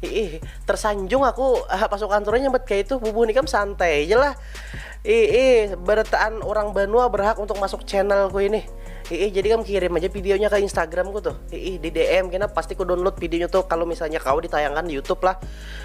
Iih, tersanjung aku ah, pasukan turun nyebut kayak itu bubuh nikam santai aja lah. Iih, beretaan orang Banua berhak untuk masuk channelku ini. Iih, jadi kamu kirim aja videonya ke Instagramku tuh. Iih, di DM kena pasti ku download videonya tuh kalau misalnya kau ditayangkan di YouTube lah.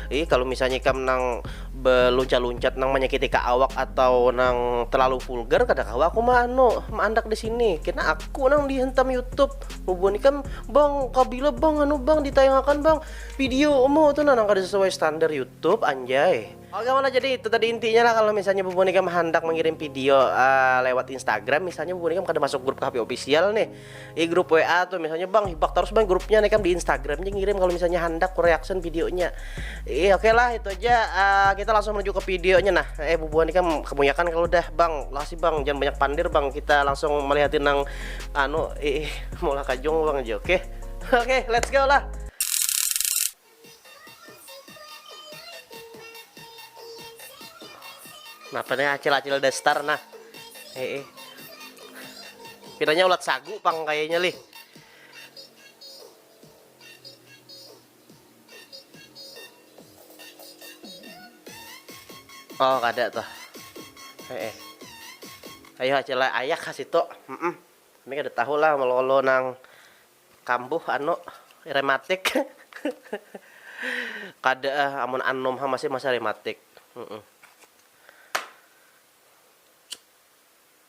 Iih, kalau misalnya kamu nang beluncat-luncat nang menyakiti ke awak atau nang terlalu vulgar kada kau aku mah anu, mandak di sini. Kena aku nang dihentam YouTube. Bubuhan ikam bang kabila bang anu bang ditayangakan bang video mu tu nang kada sesuai standar YouTube anjay. Oke mana jadi itu tadi intinya lah kalau misalnya bubuhan ikam handak mengirim video uh, lewat Instagram misalnya bubuhan ikam kada masuk grup KP official nih di grup WA tuh misalnya bang hibak terus bang grupnya nih ikam di Instagram aja ngirim kalau misalnya handak ku reaction videonya eh oke okay lah itu aja uh, kita langsung menuju ke videonya nah eh bubuhan ikam kebanyakan kalau udah bang lah sih bang jangan banyak pandir bang kita langsung melihatin nang anu ih mula kajung bang jo oke oke let's go lah nah nih acil-acil destar nah eh, eh. pinanya ulat sagu pang kayaknya lih Oh, kada tuh. Eh, eh. Ayo acil ayak ka situ. Mm -mm. Kami kada tahu lah melolo nang kambuh anu rematik. kada ah, amun anum ha masih masa rematik. Mm -mm.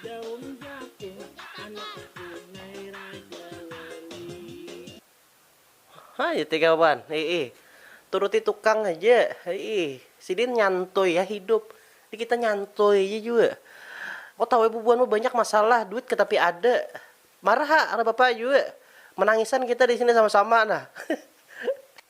Daun Jagung anak punai Raja Wali. Ha jar tiga kawan, hiih turuti tukang haja, hiih sidin nyantui ha hidup, ni kita nyantui haja jua, ko tahu ai bubuhan ma banyak masalah, duit ka tapi ada, marah ha ada bapa jua, manangisan kita disini sama-sama nah.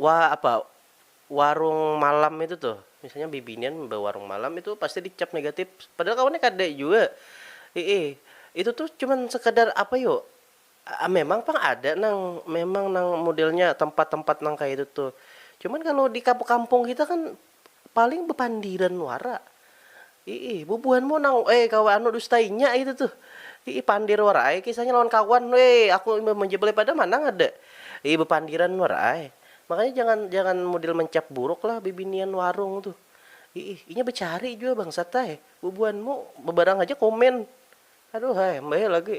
Wa apa warung malam itu tuh misalnya bibinian bawarung malam itu pasti dicap negatif padahal kawannya kada jua iih itu tuh cuman sekadar apa yu memang pang ada nang memang nang modelnya tempat tempat nang kaya itu tuh cuman kalo di kampung kampung kita kan. Paling bepandiran wara. Iih, bubuhanmu nang eh gawa anu dusta inya itu tuh. Iih, pandir wara ai kisahnya lawan kawan. Weh, aku imbah menjebelai pada mana ngada. Iih, bepandiran wara ai. Makanya jangan jangan mudil mencap buruk lah bibinian warung tuh. Iih, inya becari jua bangsat ai. Bubuhanmu bebarang haja komen. Aduh ai, mbaheh lagi.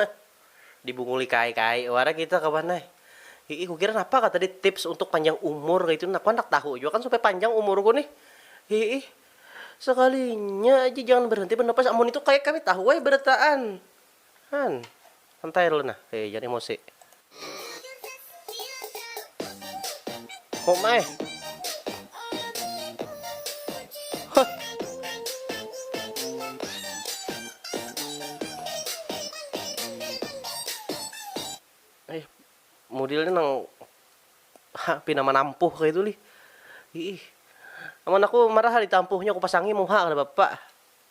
Heh, dibunguli kai-kai wara kita kawan ai. Hihi, kukira napa kah tadi tips untuk panjang umur kaitu nah, aku handak tahu jua kan supaya panjang umurku nih. Hihi, sakalinya aja jangan berhenti bernapas, amun itu kaya kami tahu ai berataan. Han, santai dulu nah, hihi jangan emosi. Kok mai? Eh, modelnya nang ha, pina manampuh kayak itu lih. Ih, amun aku marah ditampuhnya aku pasangi muha kada bapak.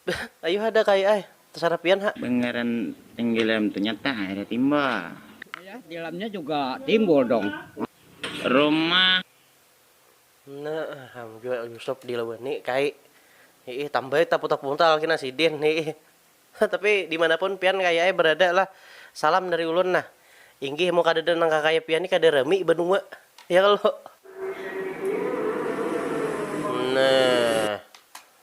Beuh ayuh ada kai ai tasarah pian ha. Bangaran tenggelam ternyata ada timba. Ayah dilamnya juga timbul dong. Rumah. Nah ham jua yusop di lawan ni kai hiih tambai ta putar puntal kina sidin hiih ha tapi dimanapun pian kai ai berada lah salam dari ulun nah inggih mun kadada nang kakaya pian ni kada rami banua ya kalo nah.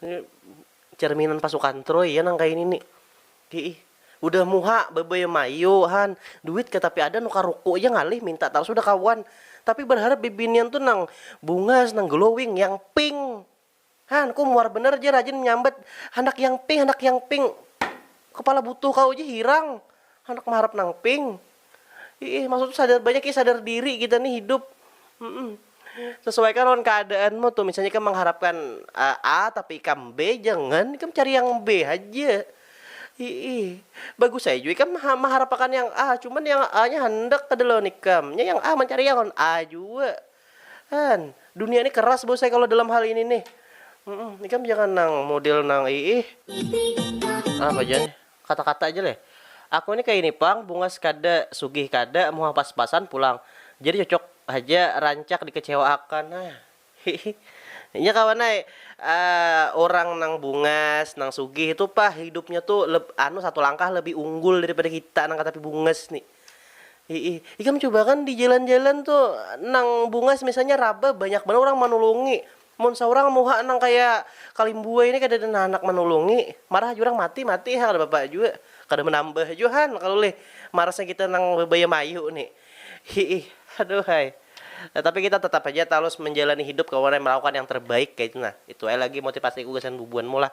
Ini cerminan pasukan Troy ya nang kaini ni. Hiih. Udah muha bebaya mayu han, duit kah tapi ada nukar ruku ja ngalih minta tarus udah kawan. Tapi berharap bibinian tu nang bungas, nang glowing, yang pink. Han, ku muar banar ja rajin menyambat handak yang pink, handak yang pink. Kepala butuh kawa ja hirang handak meharap nang pink. Iih, maksud sadar banyak ya sadar diri kita nih hidup. Mm-mm. Sesuaikan lawan keadaanmu tuh. Misalnya ikam mengharapkan uh, A tapi ikam B, jangan ikam cari yang B aja. Iih, bagus saya juga ikam mengharapkan yang A, cuman yang A-nya hendak kada lawan ikam. Ya yang A mencari yang A juga. Kan, dunia ini keras bos saya kalau dalam hal ini nih. Mm-mm. Ikam jangan nang model nang iih. Apa aja nih? Kata-kata ja leh. Aku ni kaya ini pang, bungas kada, sugih kada, muha pas-pasan pulang. Jadi cocok haja rancak dikecewaakan. Hah. Hihi. Inya kawan ai. Aaa, urang nang bungas, nang sugih tu pah hidupnya tu leb anu satu langkah lebih unggul daripada kita nang katapi bungas ni. Hihi. Ikam cubakan di jalan-jalan tu nang bungas misalnya raba banyak banar urang manulungi. Mun saurang muha nang kaya Kalimbuai ni kadada nang handak manulungi, marah haja urang mati mati ha kada papa jua, kada manambah jua han kalu lih marasnya kita nang bebaya mayu ni. Hiih aduhai. Tapi kita tatap haja tarus manjalani hidup kawan ai malakukan yang terbaik kaitu nah. Itu ai lagi motipasiku gasan bubuhanmu lah.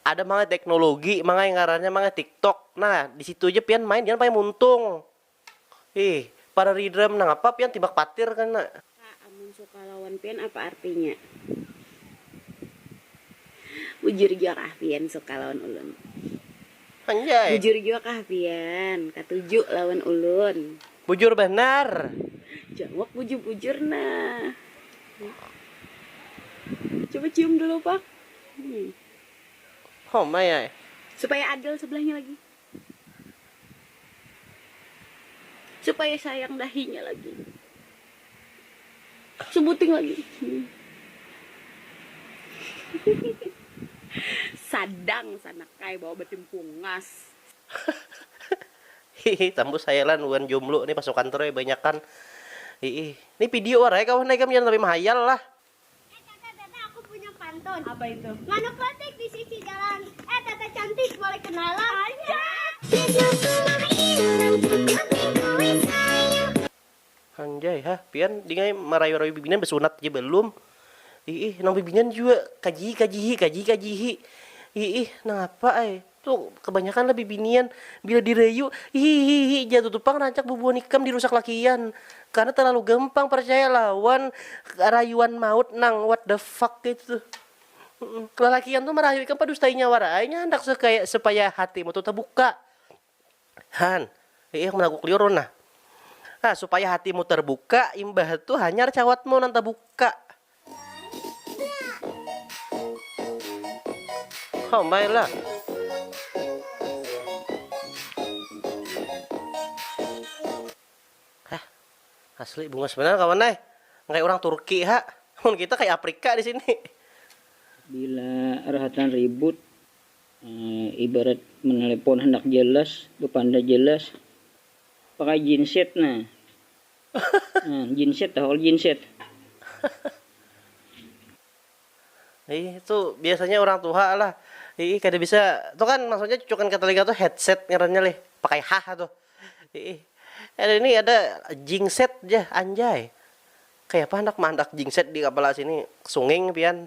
Ada mangai teknologi mangai ngarannya mangai tiktok nah disitu ja pian main jangan pakai muntung ih para ridram nangapa pian tibak patir kena. Kak, amun suka lawan pian apa artinya? Bujur jua kah pian suka lawan ulun? Anjay. Bujur jua kah pian katuju lawan ulun? Bujur banar. Jawab bujur-bujur nah. Coba cium dulu Pak. Homai ai. Supaya adil sebelahnya lagi. Supaya sayang dahinya lagi. Sebuting lagi. Sadang sanakai bawa batimpungas. Hihi tambus hayalan wan jomblo nih pasukan tuh ai banyakan hiih. Nih pidio wara ai kawan ikam jangan sampai mahayal lah. Eh tata tata aku punya pantun. Apa itu? Manuk lantik di sisi jalan. Eh tata cantik boleh kenalan. Anjay ha pian dingai marayu rayu bibinian besunat ja belum iih nang bibinian jua kajihi kajihi kajihi kajihi iih nangapa ai. Tu, kabanyakan lah bibinian, bila dirayu, hihihihi jar tutu pang rancak bubuhan ikam dirusak lakian. Karna talalu gampang parcaya lawan rayuan maut nang what the fuck kaytu tuh. Lalakian tuh marayu ikam padustai nyawa ra ai, nya handak sakaya supaya hatimu tuh tabuka. Han, iih aku managuk liur ulun nah. Nah, supaya hatimu tarbuka, imbah tu hanyar cawatmu nang tabuka. Oh my lah. Hah, asli bunga sebenarnya kawan nay. Kayak orang Turki ha. Mun kita kayak Afrika di sini. Bila rahatan ribut, eh, ibarat menelepon handak jelas, bepanda jelas, pakai jinset nah. Jinset tahu jinset. Ih itu biasanya orang tuha lah. Ih kada bisa tu kan maksudnya cucukan ke telinga tu headset ngarannya lih pakai hah tu. Ih ada ini ada jingset ja anjay. Kayapa handak maandak jingset di kapala sini sunging pian.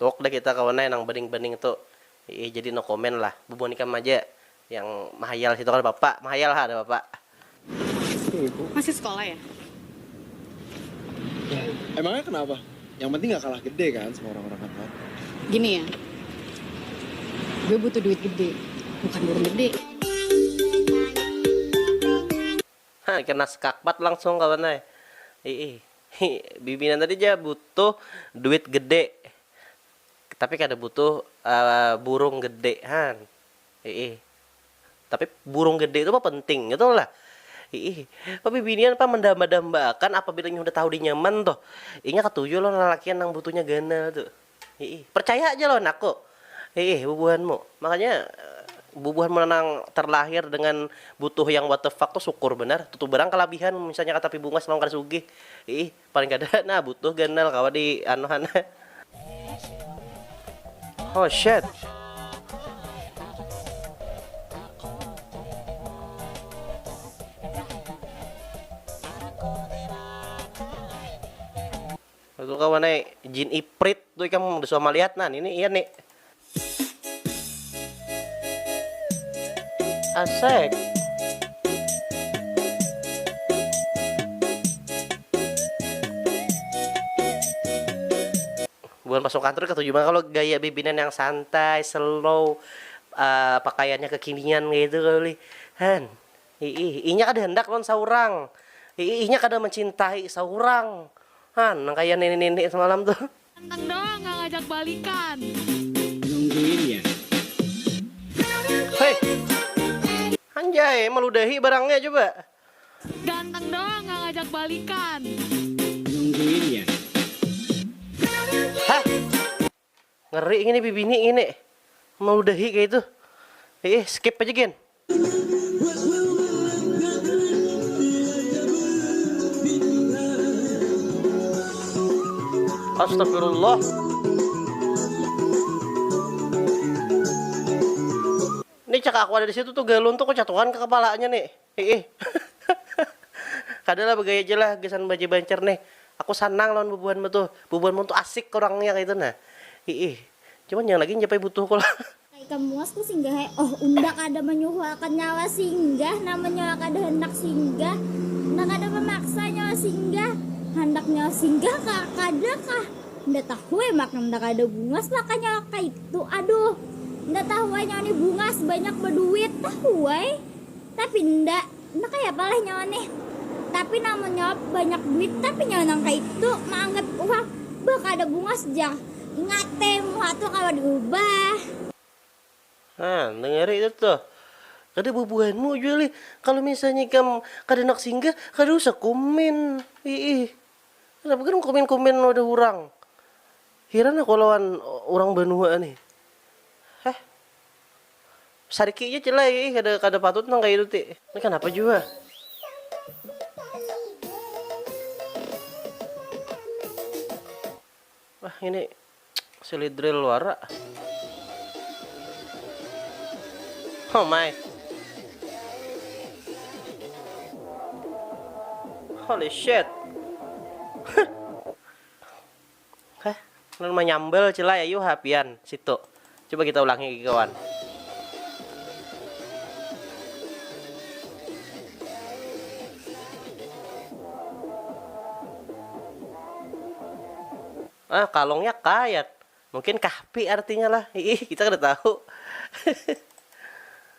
Tuwuk dah kita kawan ai nang baning-baning tu, iih jadi no comment lah, bubuhan ikam aja yang mahayal situ kada papa, mahayal ha kada papa. Masih sekolah ya? Yah, emangnya kenapa? Yang penting nggak kalah gede kan sama orang-orang kantor. Gini ya, gue butuh duit gede, bukan burung gede. Hah kena skakmat langsung kawan ai iih hi bibinian tadi ja butuh duit gede tapi kada butuh burung gede han iih tapi burung gede tu pang penting ngitu lah iih pabibinian pang mandamba-damba akan apabila inya sudah tahu dinyaman tuh inya katuju lawan lalakian nang butuhnya ganal tu. Hiih, percaya haja lawan aku. Hiih, bubuhanmu. Makanya bubuhanmu nanang terlahir dengan butuh yang what the fuck tu syukur banar. Tutu barang kalabihan misalnya katapi bungas lawan kada sugih. Hiih, paling kada nah butuh ganal kawa di anuh ha nah. Oh shit. Itu kawan eh, jin iprit tu ikam udah suah malihat nah, ini iya nih. Asik. Bukan masuk kantor ketujuh banget kalau gaya bibinan yang santai, slow, uh, pakaiannya kekinian gitu kali. Han. Hiih, inya kada handak lawan saurang. Hiih, inya kada mancintai saurang. Han, nang kaya nini-nini samalam tu. Handak doang nang ngajak balikan. Hei. Anjay, maludahi barangnya coba. Ganteng doang nang ngajak balikan. Hah. Ngeri ngini bibini ngini meludahi kaya itu. Iih skip aja gin. Astagfirullah. Nih cak aku ada di situ tuh galun tuh kecatuhan ke kepalanya nih. Hiih kada lah bagaya ja lah gasan baja bancar nih, aku sanang lawan bubuhanmu tuh, bubuhanmu tuh asik urangnya kaitu nah, hiih cuman yang lagi njapai butuh ku lah. Ka ikam muas ku singgah he oh unda kada manyuhu akan nyawa singgah nama nyawa kada handak singgah unda kada mamaksa nyawa singgah handak nyawa singgah ka kada kah unda tahu he maka unda kada bungas lah ka nyawa kaitu aduh unda tahu he nyawa ni bungas banyak baduit tahu he. Tapi nda, nda kayapa leh nyawa nih. Tapi nang manyawab banyak duit tapi nyawa nang kaitu maanggat uang bah kada bungas jah. Ingat te muha tu kawa diubah. Nah, dengari itu tuh. Kada bubuhanmu jua lih, kalo misalnya ikam kada handak singgah kada usah kumin. Iih, kanapa gin kumin-kumin wadah urang. Hiran aku lawan urang banua nih. Heh. Sariki ja cil ai ih kada kada patut nang kaya itu ti. Ni kanapa jua. Bah ngini silidril wara. Oh my. Holy shit. Hah? Ulun manyambal cil ai ayuh ha pian situ. Coba kita ulangi lagi kawan. Ah, kalongnya kayat. Mungkin kahpi artinya lah. Hiih, kita kada tahu.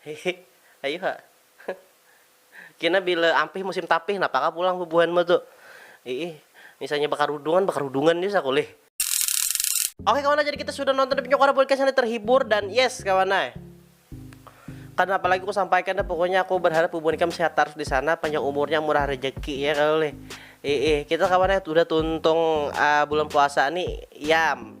Hihi, ayu ha. Kina bila ampih musim tapih napa kah pulang bubuhanmu tu. Iih, misalnya bakarudungan, bakarudungan ja saku lih. Oke kawan ai, jadi kita sudah nonton Depnya Quora Podcast ini terhibur dan yes kawan ai. Kada napa lagi ku sampaikan dah pokoknya aku berharap bubuhan ikam sehat tarus di sana, panjang umurnya, murah rejeki ya kalo lih. Iih, kita kawan ai udah tuntung bulan puasa ni, yam.